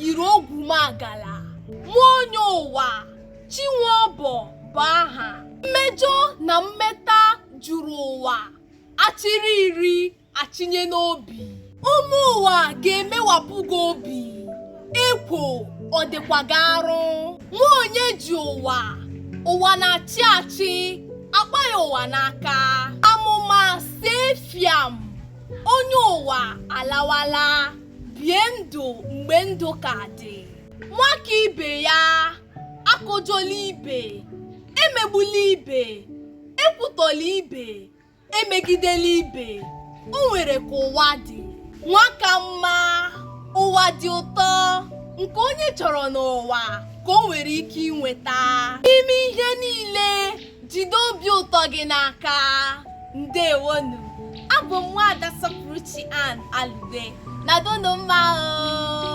yiri ogwumagala nwa onye ụwa chinwe ọbọ bụ aha mmejọ na mmeta juru ụwa achịrị iri achịnye n'obi ụmụ ụwa ga-emewapụ gị obi ekwo ọ dịkwa gị arụ nwa onye ji ụwa ụwa na-achị achị akpa ya ụwa n'aka amụma see fiam onye ụwa alawala bie ndụ mgbe ndụ ka dị nwa ka ibe ya akụjọla ibe emegbula ibe ekwutọla ibe emegidela ibe o nwere ka ụwa dị nwa ka mma ụwa dị ụtọ nke onye chọrọ n'ụwa ka o nwere ike inweta n'ime ihe niile jide obi ụtọ gị n'aka ndewonụ abụ m nwaada sọpụrụchi ann alube nọdụnụ mma o